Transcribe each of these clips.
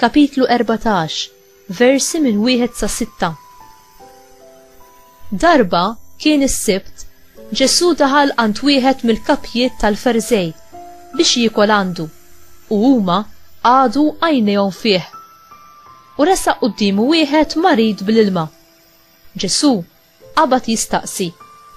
Kapitlu erbatax, versi minn wieħed sa sitta. Darba kien is-Sibt, Ġesù daħal għand wieħed mill-kapjiet tal-Ferżej biex jiekol għandu, u huma qagħdu għajnejhom fih. U resaq quddiemu wieħed marid bl-ilma. Ġesù Qabad jistaqsi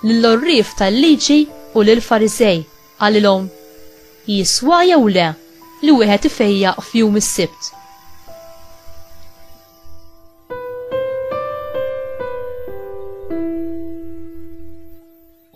lill-għorrief tal-Liġi u lill-Fariżej, qalilhom, Jiswa jew le li wieħed ifejjaq f'jum is-Sibt?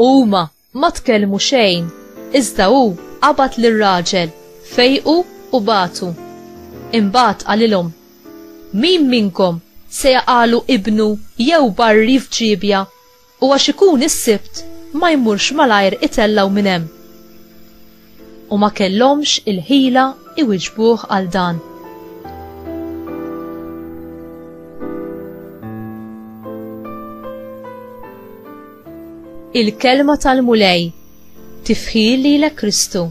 Huma Ma tkellmu xejn, iżda hu qabad lir-raġel, fejqu u bagħtu. Imbagħad qalilhom, Min minnkom se jaqagħlu ibnu jew barri f'ġiebja u għax ikun is-Sibt ma jmurx malajr itellgħu minn hemm? u ma kellhomx il-ħila iwiġbuh għal dan. Il-kelma tal-Mulej tifħi lilek Kristu.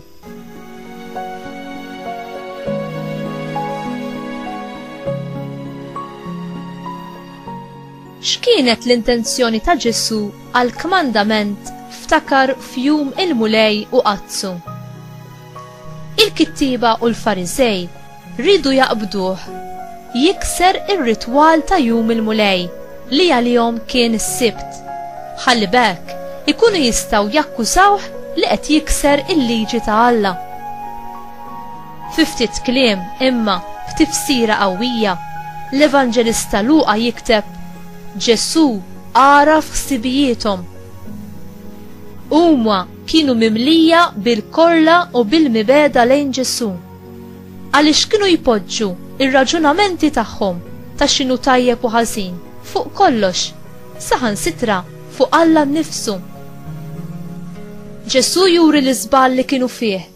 X'kienet l-intenzjoni ta' Ġesù għall-kmandament ftakar f'jum il-Mulej u għaddsu? Il-kittieba u l-Fariżej riedu jaqbduh jikser ir-ritwal ta' jum il-Mulej li għalihom kien is-Sibt, ħalli b'hekk ikunu jistgħu jakkużawh li qed jikser il-liġi ta' Alla. Fi ftit kliem, imma b'tifsira qawwija, l-Evanġelista Luqa jikteb, Ġesù għaraf ħsibijiethom. Huma kienu mimlija bil-korla u bil-mibegħda lejn Ġesù, għaliex kienu jpoġġu r-raġunamenti tagħhom ta' x'inhu tajjeb u ħażin fuq kollox, saħansitra fuq Alla nnifsu. Ġesù juri l-iżball li kienu fih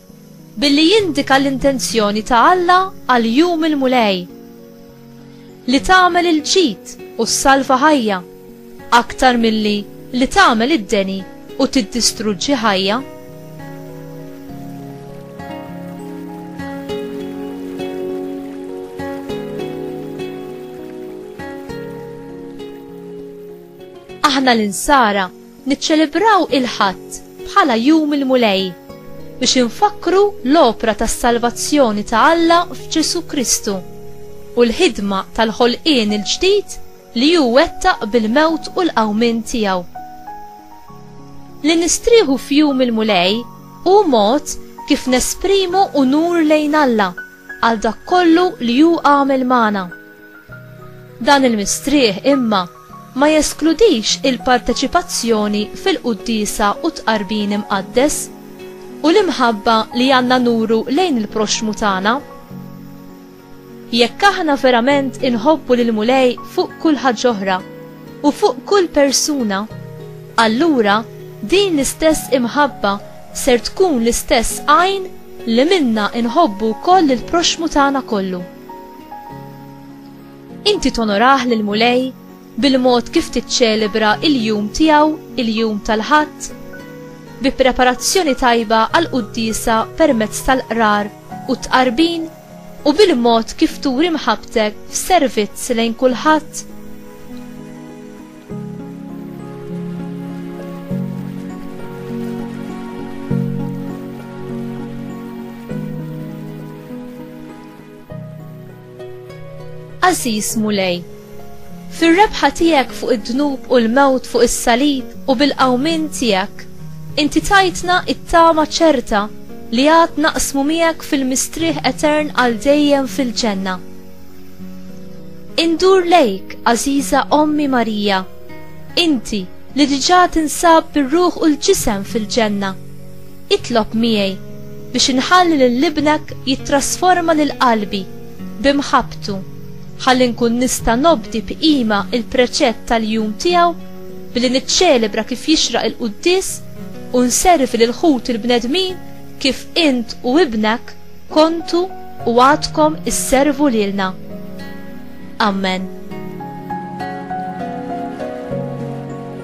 Billi jindika l-intenzjoni ta' Alla għal Jum il-Mulej, li tagħmel il-ġid u ssalva ħajja, aktar milli li tagħmel id-deni u tiddistruġġi ħajja. Aħna l-Insara Niċċelebraw il-Ħadd bħala Jum il-Mulej biex infakkru l-opra tas-salvazzjoni ta' Alla f'Ġesù Kristu u l-ħidma tal-ħolqien il-ġdid li hu wettaq bil-mewt u l-qawmien tiegħu. Li nistrieħu f'Jum il-Mulej hu mod kif nesprimu unur lejn Alla għal dak kollu li hu għamel magħna. Dan il-mistrieħ imma ma jeskludix il-parteċipazzjoni fil-quddiesa u t-tqarbin imqaddes u l-imħabba li għandna nuru lejn il-proxxmu tagħna. Jekk aħna verament inħobbu lill-Mulej fuq kull ħaġ'oħra u fuq kull persuna, allura din l-istess imħabba ser tkun l-istess għajn li minnha nħobbu wkoll lill-proxxmu tagħna kollu. Inti tonorah lill-Mulej bil-mod kif tiċċelebra l-jum tiegħu, il-jum tal-Ħadd? Bi preparazzjoni tajba għall-quddiesa permezz tal-qrar u t-tqarbin u bil-mod kif turi mħabbtek f'servizz lejn kulħadd? Għażiż Mulej, fir-rebħa tiegħek fuq id-dnub u l-mewt fuq is-salib u bil-qawmien tiegħek, inti tajtna t-tama ċerta li għad naqsmu miegħek fil-mistrieħ etern għal dejjem fil-ġenna. Indur lejk, għażiża Ommi Marija, inti li diġà tinsab bir-ruħ u l-ġisem fil-ġenna, Itlob miegħi biex inħalli lil ibnek jittrasforma lil qalbi b'imħabbtu ħalli nkun nista' nobdi b'qima l-preċett tal-jum tiegħu billi niċċelebra kif jixraq il-quddies u nservi lil ħut il-bnedmin kif int u ibnek kontu u għadkom isservu lilna. Amen.